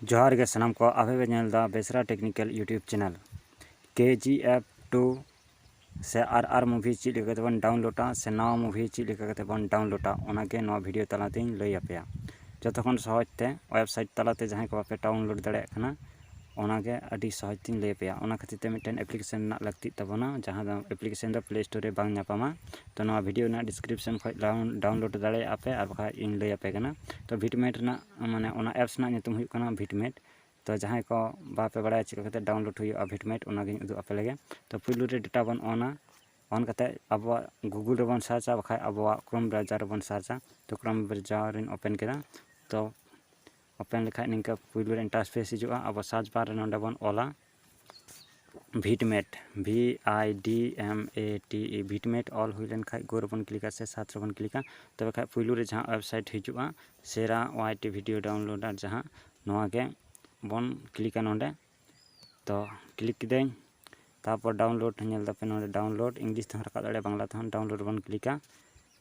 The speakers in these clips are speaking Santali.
ᱡᱚᱦᱟᱨ ᱜᱮ ᱥᱟᱱᱟᱢ ᱠᱚ ᱟᱯᱮ ᱯᱮ ᱧᱮᱞ ᱮᱫᱟ ᱵᱮᱥᱨᱟ technical YouTube channel K G F two ᱥᱮ ᱟᱨ ᱟᱨ ᱢᱩᱵᱷᱤ ᱪᱮᱫ ᱞᱮᱠᱟ ᱠᱟᱛᱮ ᱵᱚᱱ ᱰᱟᱣᱩᱱᱞᱳᱰᱟ ᱥᱮ ᱱᱟᱣᱟ ᱢᱩᱵᱷᱤ ᱪᱮᱫ ᱞᱮᱠᱟ ᱠᱟᱛᱮ ᱵᱚᱱ ᱰᱟᱣᱩᱱᱞᱳᱰᱟ ᱚᱱᱟᱜᱮ ᱱᱚᱣᱟ ᱵᱷᱤᱰᱤᱭᱳ ᱛᱟᱞᱟᱛᱮᱧ ᱞᱟᱹᱭ ᱟᱯᱮᱭᱟ ᱡᱚᱛᱚ ᱠᱷᱚᱱ ᱥᱚᱦᱚᱡᱽ ᱛᱮ ᱳᱭᱮᱵᱽᱥᱟᱭᱤᱴ ᱛᱟᱞᱟᱛᱮ ᱡᱟᱦᱟᱸᱭ ᱠᱚ ᱵᱟᱯᱮ ᱰᱟᱣᱩᱱᱞᱳᱰ ᱫᱟᱲᱮᱭᱟᱜ ᱠᱟᱱᱟ ᱚᱱᱟᱜᱮ ᱟᱹᱰᱤ ᱥᱚᱦᱚᱡᱽ ᱛᱮᱧ ᱞᱟᱹᱭ ᱟᱯᱮᱭᱟ ᱚᱱᱟ ᱠᱷᱟᱹᱛᱤᱨ ᱛᱮ ᱢᱤᱫᱴᱮᱱ ᱮᱯᱞᱤᱠᱮᱥᱚᱱ ᱨᱮᱱᱟᱜ ᱞᱟᱹᱠᱛᱤᱜ ᱛᱟᱵᱚᱱᱟ ᱡᱟᱦᱟᱸ ᱫᱚ ᱮᱯᱞᱤᱠᱮᱥᱚᱱ ᱫᱚ ᱯᱞᱮ ᱥᱴᱳᱨ ᱨᱮ ᱵᱟᱝ ᱧᱟᱯᱟᱢᱟ ᱛᱚ ᱱᱚᱣᱟ ᱵᱷᱤᱰᱭᱳ ᱨᱮᱱᱟᱜ ᱰᱤᱥᱠᱨᱤᱯᱥᱚᱱ ᱠᱷᱚᱱ ᱰᱟᱣᱩᱱᱞᱳᱰ ᱫᱟᱲᱮᱭᱟᱜ ᱟᱯᱮ ᱟᱨ ᱵᱟᱠᱷᱟᱱ ᱤᱧ ᱞᱟᱹᱭ ᱟᱯᱮ ᱠᱟᱱᱟ ᱛᱚ ᱵᱷᱤᱴ ᱢᱮᱴ ᱨᱮᱱᱟᱜ ᱢᱟᱱᱮ ᱚᱱᱟ ᱮᱯᱥ ᱨᱮᱱᱟᱜ ᱧᱩᱛᱩᱢ ᱦᱩᱭᱩᱜ ᱠᱟᱱᱟ ᱵᱷᱤᱴ ᱢᱮᱴ ᱛᱚ ᱡᱟᱦᱟᱸᱭ ᱠᱚ ᱵᱟᱯᱮ ᱵᱟᱲᱟᱭᱟ ᱪᱤᱠᱟᱹ ᱠᱟᱛᱮᱫ ᱰᱟᱣᱩᱱᱞᱳᱰ ᱦᱩᱭᱩᱜᱼᱟ ᱵᱷᱤᱴ ᱢᱮᱴ ᱚᱱᱟᱜᱤᱧ ᱩᱫᱩᱜ ᱟᱯᱮ ᱞᱮᱜᱮ ᱛᱚ ᱯᱳᱭᱞᱳ ᱨᱮ ᱰᱮᱴᱟ ᱵᱚᱱ ᱚᱱᱟ ᱚᱱ ᱠᱟᱛᱮᱫ ᱟᱵᱚᱣᱟᱜ ᱜᱩᱜᱩᱞ ᱨᱮᱵᱚᱱ ᱥᱟᱨᱪᱟ ᱵᱟᱠᱷᱟᱱ ᱟᱵᱚᱣᱟᱜ ᱠᱨᱳᱢ ᱵᱨᱟᱣᱡᱟᱨ ᱨᱮᱵᱚᱱ ᱥᱟᱨᱪᱟ ᱛᱚ ᱠᱨᱳᱢ ᱵᱨᱟᱣᱡᱟᱨ ᱤᱧ ᱳᱯᱮᱱ ᱠᱮᱫᱟ ᱛᱚ ᱳᱯᱮᱱ ᱞᱮᱠᱷᱟᱡ ᱱᱤᱝᱠᱟᱹ ᱯᱩᱭᱞᱩ ᱨᱮ ᱤᱱᱴᱟᱨ ᱯᱷᱮᱥ ᱦᱤᱡᱩᱜᱼᱟ ᱟᱵᱚ ᱥᱟᱨᱪ ᱵᱟᱨ ᱨᱮ ᱱᱚᱰᱮ ᱵᱚᱱ ᱚᱞᱟ ᱵᱷᱤᱴ ᱢᱮᱴ ᱵᱷᱤ ᱟᱭ ᱰᱤ ᱮᱢ ᱮ ᱴᱤ ᱤ ᱵᱷᱤᱴ ᱢᱮᱴ ᱚᱞ ᱦᱩᱭ ᱞᱮᱱ ᱠᱷᱟᱡ ᱜᱳ ᱨᱮᱵᱚᱱ ᱠᱞᱤᱠᱟ ᱥᱮ ᱥᱟᱨᱪ ᱨᱮᱵᱚᱱ ᱠᱞᱤᱠᱟ ᱛᱚᱵᱮ ᱠᱷᱟᱡ ᱯᱩᱭᱞᱩ ᱨᱮ ᱡᱟᱦᱟᱸ ᱳᱭᱮᱵᱽᱥᱟᱭᱤᱴ ᱦᱤᱡᱩᱜᱼᱟ ᱥᱮᱨᱟ ᱳᱣᱟᱭ ᱴᱤ ᱵᱷᱤᱰᱤᱭᱳ ᱰᱟᱣᱩᱱᱞᱳᱰᱟᱨ ᱡᱟᱦᱟᱸ ᱱᱚᱣᱟ ᱜᱮ ᱵᱚᱱ ᱠᱞᱤᱠᱟ ᱱᱚᱰᱮ ᱛᱚ ᱠᱞᱤᱠ ᱠᱤᱫᱟᱹᱧ ᱛᱟᱨᱯᱚᱨ ᱰᱟᱣᱩᱱᱞᱳᱰ ᱧᱮᱞ ᱫᱟᱯᱮ ᱱᱚᱰᱮ ᱰᱟᱣᱩᱱᱞᱳᱰ ᱤᱝᱞᱤᱥ ᱛᱮᱦᱚᱸ ᱨᱟᱠᱟᱵ ᱫᱟᱲᱮᱭᱟᱜᱼᱟ ᱵᱟᱝᱞᱟ ᱛᱮᱦᱚᱸ ᱰᱟᱣᱩᱱᱞᱳᱰ ᱨᱮᱵᱚᱱ ᱠᱞᱤᱠᱟ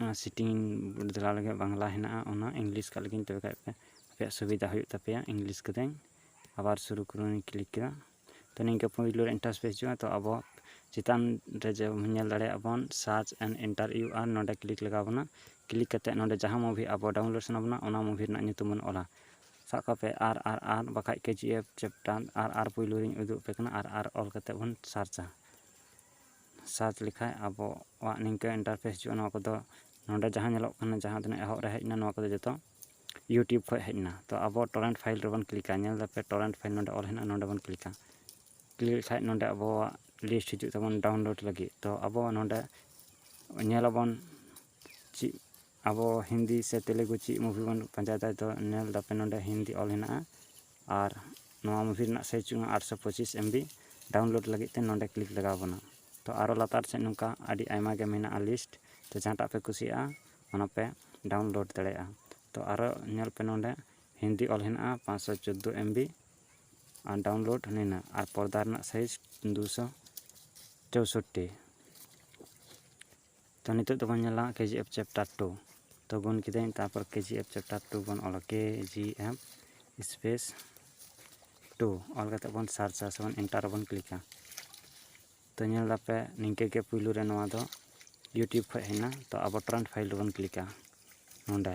ᱚᱱᱟ ᱥᱮᱴᱤᱝ ᱵᱚᱫᱽᱞᱟᱣ ᱞᱟᱹᱜᱤᱫ ᱵᱟᱝᱞᱟ ᱦᱮᱱᱟᱜᱼᱟ ᱚᱱᱟ ᱤᱝᱞᱤᱥ ᱠᱟᱜ ᱞᱮᱜᱤᱧ ᱛᱚᱵᱮ ᱠᱷᱟᱡ ᱯᱮ ᱟᱯᱮᱭᱟᱜ ᱥᱩᱵᱤᱫᱷᱟ ᱦᱩᱭᱩᱜ ᱛᱟᱯᱮᱭᱟ ᱤᱝᱞᱤᱥ ᱠᱟᱹᱫᱟᱹᱧ ᱟᱵᱟᱨ ᱥᱩᱨᱩ ᱠᱚᱨᱮᱧ ᱠᱞᱤᱠ ᱠᱮᱫᱟ ᱛᱚ ᱱᱤᱝᱠᱟᱹ ᱯᱳᱭᱞᱳ ᱨᱮ ᱤᱱᱴᱟᱨᱯᱷᱮᱥ ᱦᱤᱡᱩᱜᱼᱟ ᱛᱚ ᱟᱵᱚ ᱪᱮᱛᱟᱱ ᱨᱮ ᱡᱮᱢᱚᱱ ᱧᱮᱞ ᱫᱟᱲᱮᱭᱟᱜ ᱵᱚᱱ search and enter U R ᱱᱚᱰᱮ ᱠᱞᱤᱠ ᱞᱟᱜᱟᱣ ᱵᱚᱱᱟ ᱠᱞᱤᱠ ᱠᱟᱛᱮᱫ ᱱᱚᱰᱮ ᱡᱟᱦᱟᱸ ᱢᱩᱵᱷᱤ ᱟᱵᱚ ᱰᱟᱣᱩᱱᱞᱳᱰ ᱥᱟᱱᱟ ᱵᱚᱱᱟ ᱚᱱᱟ ᱢᱩᱵᱷᱤ ᱨᱮᱱᱟᱜ ᱧᱩᱛᱩᱢ ᱵᱚᱱ ᱚᱞᱟ ᱥᱟᱵ ᱠᱟᱜ ᱯᱮ ᱟᱨ ᱟᱨ ᱟᱨ ᱵᱟᱠᱷᱟᱡ ᱠᱮ ᱡᱤ ᱮᱯᱷ ᱪᱮᱯᱴᱟᱨ ᱟᱨ ᱟᱨ ᱯᱳᱭᱞᱳ ᱨᱤᱧ ᱩᱫᱩᱜ ᱟᱯᱮ ᱠᱟᱱᱟ ᱟᱨ ᱟᱨ ᱚᱞ ᱠᱟᱛᱮᱫ ᱵᱚᱱ ᱥᱟᱨᱪᱟ ᱥᱟᱨᱪ ᱞᱮᱠᱷᱟᱡ ᱟᱵᱚᱣᱟᱜ ᱱᱤᱝᱠᱟᱹ ᱤᱱᱴᱟᱨᱯᱷᱮᱥ ᱦᱤᱡᱩᱜᱼᱟ ᱱᱚᱣᱟ ᱠᱚᱫᱚ ᱱᱚᱰᱮ ᱡᱟᱦᱟᱸ ᱧᱮᱞᱚᱜ ᱠᱟᱱᱟ ᱡᱟᱦᱟᱸ ᱛᱤᱱᱟᱹᱜ ᱮᱦᱚᱵ ᱨᱮ ᱦᱮᱡ ᱮᱱᱟ ᱱᱚᱣᱟ ᱠᱚᱫᱚ ᱡᱚᱛᱚ ᱤᱭᱩᱴᱩᱵᱽ ᱠᱷᱚᱡ ᱦᱮᱡ ᱮᱱᱟ ᱛᱚ ᱟᱵᱚ ᱴᱚᱨᱮᱱᱴ ᱯᱷᱟᱭᱤᱞ ᱨᱮᱵᱚᱱ ᱠᱞᱤᱠᱟ ᱧᱮᱞ ᱫᱟᱯᱮ ᱴᱚᱨᱮᱱᱴ ᱯᱷᱟᱭᱤᱞ ᱱᱚᱰᱮ ᱚᱞ ᱦᱮᱱᱟᱜᱼᱟ ᱱᱚᱰᱮ ᱵᱚᱱ ᱠᱞᱤᱠᱟ ᱠᱞᱤᱠ ᱞᱮᱠᱷᱟᱡ ᱱᱚᱰᱮ ᱟᱵᱚᱣᱟᱜ ᱞᱤᱥᱴ ᱦᱤᱡᱩᱜ ᱛᱟᱵᱚᱱ ᱰᱟᱣᱩᱱᱞᱳᱰ ᱞᱟᱹᱜᱤᱫ ᱛᱚ ᱟᱵᱚ ᱱᱚᱰᱮ ᱧᱮᱞ ᱟᱵᱚᱱ ᱪᱮᱫ ᱟᱵᱚ ᱦᱤᱱᱫᱤ ᱥᱮ ᱛᱮᱞᱮᱜᱩ ᱪᱮᱫ ᱢᱩᱵᱷᱤ ᱵᱚᱱ ᱯᱟᱸᱡᱟᱭᱮᱫᱟ ᱛᱚ ᱧᱮᱞ ᱫᱟᱯᱮ ᱱᱚᱰᱮ ᱦᱤᱱᱫᱤ ᱚᱞ ᱦᱮᱱᱟᱜᱼᱟ ᱟᱨ ᱱᱚᱣᱟ ᱢᱩᱵᱷᱤ ᱨᱮᱱᱟᱜ ᱥᱟᱭᱤᱡᱽ ᱦᱩᱭᱩᱜ ᱠᱟᱱᱟ ᱟᱴᱥᱚ ᱯᱚᱸᱪᱤᱥ ᱮᱢ ᱵᱤ ᱰᱟᱣᱩᱱᱞᱳᱰ ᱞᱟᱹᱜᱤᱫ ᱛᱮ ᱱᱚᱰᱮ ᱠᱞᱤᱠ ᱞᱟᱜᱟᱣ ᱵᱚᱱᱟ ᱛᱚ ᱟᱨᱚ ᱞᱟᱛᱟᱨ ᱥᱮᱫ ᱱᱚᱝᱠᱟ ᱟᱹᱰᱤ ᱟᱭᱢᱟ ᱜᱮ ᱢᱮᱱᱟᱜᱼᱟ ᱞᱤᱥᱴ ᱛᱚ ᱡᱟᱦᱟᱸᱴᱟᱜ ᱯᱮ ᱠᱩᱥᱤᱭᱟᱜᱼᱟ ᱚᱱᱟ ᱯᱮ ᱰᱟᱣᱩᱱᱞᱳᱰ ᱫᱟᱲᱮᱭᱟᱜᱼᱟ ᱛᱚ ᱟᱨᱚ ᱧᱮᱞ ᱯᱮ ᱱᱚᱰᱮ ᱦᱤᱱᱫᱤ ᱚᱞ ᱦᱮᱱᱟᱜᱼᱟ ᱯᱟᱸᱪᱥᱚ ᱪᱳᱫᱽᱫᱳ ᱮᱢ ᱵᱤ ᱟᱨ ᱰᱟᱣᱩᱱᱞᱳᱰ ᱱᱤᱱᱟᱹᱜ ᱟᱨ ᱯᱚᱨᱫᱟ ᱨᱮᱱᱟᱜ ᱥᱟᱭᱤᱡᱽ ᱫᱩ ᱥᱚ ᱪᱳᱣᱥᱳᱴᱴᱤ ᱛᱚ ᱱᱤᱛᱚᱜ ᱫᱚᱵᱚᱱ ᱧᱮᱞᱟ K G F chapter two ᱛᱚ ᱜᱩᱱ ᱠᱤᱫᱟᱹᱧ ᱛᱟᱨᱯᱚᱨ K G F chapter two ᱵᱚᱱ ᱚᱞᱟ ᱠᱮ ᱡᱤ ᱮᱯᱷ ᱥᱯᱮᱥ ᱴᱩ ᱚᱞ ᱠᱟᱛᱮᱫ ᱵᱚᱱ ᱥᱟᱨᱪᱟ ᱥᱮ ᱵᱚᱱ ᱮᱱᱴᱟᱨ ᱨᱮᱵᱚᱱ ᱠᱞᱤᱠᱟ ᱛᱚ ᱧᱮᱞ ᱫᱟᱯᱮ ᱱᱤᱝᱠᱟᱹ ᱜᱮ ᱯᱩᱭᱞᱩ ᱨᱮ ᱱᱚᱣᱟ ᱫᱚ ᱤᱭᱩᱴᱤᱭᱩᱵᱽ ᱠᱷᱚᱡ ᱦᱮᱡ ᱮᱱᱟ ᱛᱚ ᱟᱵᱚ ᱴᱨᱮᱱᱰ ᱯᱷᱟᱭᱤᱞ ᱨᱮᱵᱚᱱ ᱠᱞᱤᱠᱟ ᱱᱚᱸᱰᱮ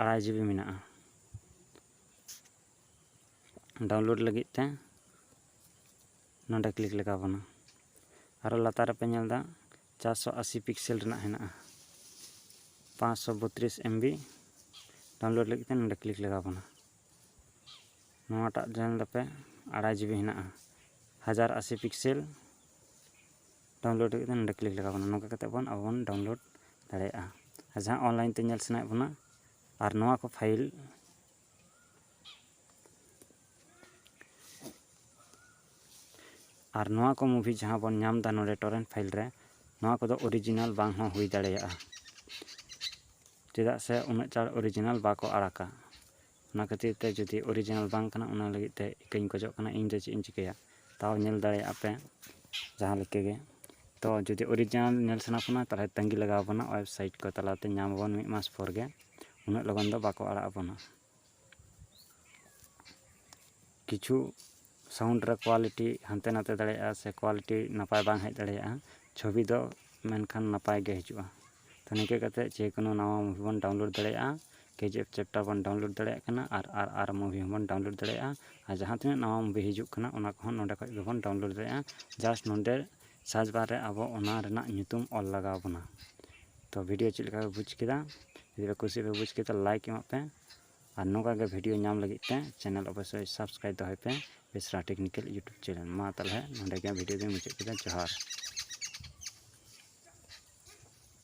ᱟᱲᱟᱭ ᱡᱤᱵᱤ ᱢᱮᱱᱟᱜᱼᱟ ᱰᱟᱣᱩᱱᱞᱳᱰ ᱞᱟᱹᱜᱤᱫ ᱛᱮ ᱱᱚᱰᱮ ᱠᱞᱤᱠ ᱞᱟᱜᱟᱣ ᱵᱚᱱᱟ ᱟᱨᱚ ᱞᱟᱛᱟᱨ ᱨᱮᱯᱮ ᱧᱮᱞ ᱮᱫᱟ ᱪᱟᱨᱥᱚ ᱟᱥᱤ ᱯᱤᱠᱥᱮᱞ ᱨᱮᱱᱟᱜ ᱦᱮᱱᱟᱜᱼᱟ ᱯᱟᱸᱪᱥᱚ ᱵᱚᱛᱨᱤᱥ ᱮᱢᱵᱤ ᱰᱟᱣᱩᱱᱞᱳᱰ ᱞᱟᱹᱜᱤᱫ ᱛᱮ ᱱᱚᱰᱮ ᱠᱞᱤᱠ ᱞᱟᱜᱟᱣ ᱵᱚᱱᱟ ᱱᱚᱣᱟᱴᱟᱜ ᱧᱮᱞ ᱫᱟᱯᱮ ᱟᱲᱟᱭ ᱡᱤᱵᱤ ᱦᱮᱱᱟᱜᱼᱟ ᱦᱟᱡᱟᱨ ᱟᱥᱤ ᱯᱤᱠᱥᱮᱞ ᱰᱟᱣᱩᱱᱞᱳᱰ ᱞᱟᱹᱜᱤᱫ ᱫᱚ ᱱᱚᱰᱮ ᱠᱞᱤᱠ ᱞᱟᱜᱟᱣ ᱵᱚᱱᱟ ᱱᱚᱝᱠᱟ ᱠᱟᱛᱮᱫ ᱵᱚᱱ ᱟᱵᱚ ᱵᱚᱱ ᱰᱟᱣᱩᱱᱞᱳᱰ ᱫᱟᱲᱮᱭᱟᱜᱼᱟ ᱟᱨ ᱡᱟᱦᱟᱸ ᱚᱱᱞᱟᱭᱤᱱ ᱛᱮ ᱧᱮᱞ ᱥᱟᱱᱟᱭᱮᱫ ᱵᱚᱱᱟ ᱟᱨ ᱱᱚᱣᱟ ᱠᱚ ᱯᱷᱟᱭᱤᱞ ᱟᱨ ᱱᱚᱣᱟ ᱠᱚ ᱢᱩᱵᱷᱤ ᱡᱟᱦᱟᱸ ᱵᱚᱱ ᱧᱟᱢ ᱮᱫᱟ ᱱᱚᱰᱮ ᱴᱚᱨᱮᱱᱴ ᱯᱷᱟᱭᱤᱞ ᱨᱮ ᱱᱚᱣᱟ ᱠᱚᱫᱚ ᱚᱨᱤᱡᱤᱱᱟᱞ ᱵᱟᱝ ᱦᱚᱸ ᱦᱩᱭ ᱫᱟᱲᱮᱭᱟᱜᱼᱟ ᱪᱮᱫᱟᱜ ᱥᱮ ᱩᱱᱟᱹᱜ ᱪᱟᱬ ᱚᱨᱤᱡᱤᱱᱟᱞ ᱵᱟᱠᱚ ᱟᱲᱟᱜᱟ ᱚᱱᱟ ᱠᱷᱟᱹᱛᱤᱨ ᱛᱮ ᱡᱩᱫᱤ ᱚᱨᱤᱡᱤᱱᱟᱞ ᱵᱟᱝ ᱠᱟᱱᱟ ᱚᱱᱟ ᱞᱟᱹᱜᱤᱫ ᱛᱮ ᱤᱠᱟᱹᱧ ᱠᱷᱚᱡᱚᱜ ᱠᱟᱱᱟ ᱤᱧ ᱫᱚ ᱪᱮᱫ ᱤᱧ ᱪᱤᱠᱟᱹᱭᱟ ᱛᱟᱣ ᱧᱮᱞ ᱫᱟᱲᱮᱭᱟᱜᱼᱟ ᱯᱮ ᱡᱟᱦᱟᱸ ᱞᱮᱠᱟ ᱜᱮ ᱛᱚ ᱡᱩᱫᱤ ᱚᱨᱤᱡᱤᱱᱟᱞ ᱧᱮᱞ ᱥᱟᱱᱟ ᱯᱮ ᱠᱷᱟᱱ ᱛᱟᱦᱚᱞᱮ ᱛᱟᱹᱜᱤ ᱞᱟᱜᱟᱣ ᱵᱚᱱᱟ ᱳᱭᱮᱵᱽᱥᱟᱭᱤᱴ ᱠᱚ ᱛᱟᱞᱟᱛᱮ ᱧᱟᱢ ᱟᱵᱚᱱ ᱢᱤᱫ ᱢᱟᱥ ᱯᱚᱨ ᱜᱮ ᱩᱱᱟᱹᱜ ᱞᱚᱜᱚᱱ ᱫᱚ ᱵᱟᱠᱚ ᱟᱲᱟᱜ ᱟᱵᱚᱱᱟ ᱠᱤᱪᱷᱩ ᱥᱟᱣᱩᱱᱰ ᱨᱮ ᱠᱳᱣᱟᱞᱤᱴᱤ ᱦᱟᱱᱛᱮ ᱱᱟᱛᱮ ᱫᱟᱲᱮᱭᱟᱜᱼᱟ ᱥᱮ ᱠᱳᱣᱟᱞᱤᱴᱤ ᱱᱟᱯᱟᱭ ᱵᱟᱝ ᱦᱮᱡ ᱫᱟᱲᱮᱭᱟᱜᱼᱟ ᱪᱷᱚᱵᱤ ᱫᱚ ᱢᱮᱱᱠᱷᱟᱱ ᱱᱟᱯᱟᱭ ᱜᱮ ᱦᱤᱡᱩᱜᱼᱟ ᱛᱚ ᱱᱤᱝᱠᱟᱹ ᱠᱟᱛᱮ ᱡᱮᱠᱳᱱᱳ ᱱᱟᱣᱟ ᱢᱩᱵᱷᱤ ᱵᱚᱱ ᱰᱟᱣᱩᱱᱞᱳᱰ ᱫᱟᱲᱮᱭᱟᱜᱼᱟ ᱠᱮ ᱡᱤ ᱮᱯᱷ ᱪᱮᱯᱴᱟᱨ ᱚᱣᱟᱱ ᱵᱚᱱ ᱰᱟᱣᱩᱱᱞᱳᱰ ᱫᱟᱲᱮᱭᱟᱜ ᱠᱟᱱᱟ ᱟᱨ ᱟᱨ ᱟᱨ ᱢᱩᱵᱷᱤ ᱦᱚᱸᱵᱚᱱ ᱰᱟᱣᱩᱱᱞᱳᱰ ᱫᱟᱲᱮᱭᱟᱜᱼᱟ ᱟᱨ ᱡᱟᱦᱟᱸ ᱛᱤᱱᱟᱹᱜ ᱱᱟᱣᱟ ᱢᱩᱵᱷᱤ ᱦᱤᱡᱩᱜ ᱠᱟᱱᱟ ᱚᱱᱟ ᱠᱚᱦᱚᱸ ᱱᱚᱰᱮ ᱠᱷᱚᱡ ᱜᱮᱵᱚᱱ ᱰᱟᱣᱩᱱᱞᱳᱰ ᱫᱟᱲᱮᱭᱟᱜᱼᱟ ᱡᱟᱥᱴ ᱱᱚᱰᱮ ᱥᱟᱨᱪ ᱵᱟᱨ ᱨᱮ ᱟᱵᱚ ᱚᱱᱟ ᱨᱮᱱᱟᱜ ᱧᱩᱛᱩᱢ ᱚᱞ ᱞᱟᱜᱟᱣ ᱵᱚᱱᱟ ᱛᱚ ᱵᱷᱤᱰᱤᱭᱳ ᱪᱮᱫ ᱞᱮᱠᱟ ᱯᱮ ᱵᱩᱡᱽ ᱠᱮᱫᱟ ᱡᱩᱫᱤ ᱯᱮ ᱠᱩᱥᱤ ᱯᱮ ᱵᱩᱡᱽ ᱠᱮᱫᱟ ᱞᱟᱭᱤᱠ ᱮᱢᱟᱜ ᱯᱮ ᱟᱨ ᱱᱚᱝᱠᱟ ᱜᱮ ᱵᱷᱤᱰᱤᱭᱳ ᱧᱟᱢ ᱞᱟᱹᱜᱤᱫ ᱛᱮ ᱪᱮᱱᱮᱞ ᱚᱵᱚᱥᱥᱳᱭ ᱥᱟᱵᱥᱠᱨᱟᱭᱤᱵ ᱫᱚᱦᱚᱭ ᱯᱮ ᱵᱮᱥᱨᱟ ᱴᱮᱠᱱᱤᱠᱮᱞ ᱤᱭᱩᱴᱩᱵᱽ ᱪᱮᱱᱮᱞ ᱢᱟ ᱛᱟᱦᱚᱞᱮ ᱱᱚᱸᱰᱮ ᱜᱮ ᱵᱷᱤᱰᱤᱭᱳ ᱫᱚᱧ ᱢᱩᱪᱟᱹᱫ ᱠᱮᱫᱟ ᱡᱚᱦᱟᱨ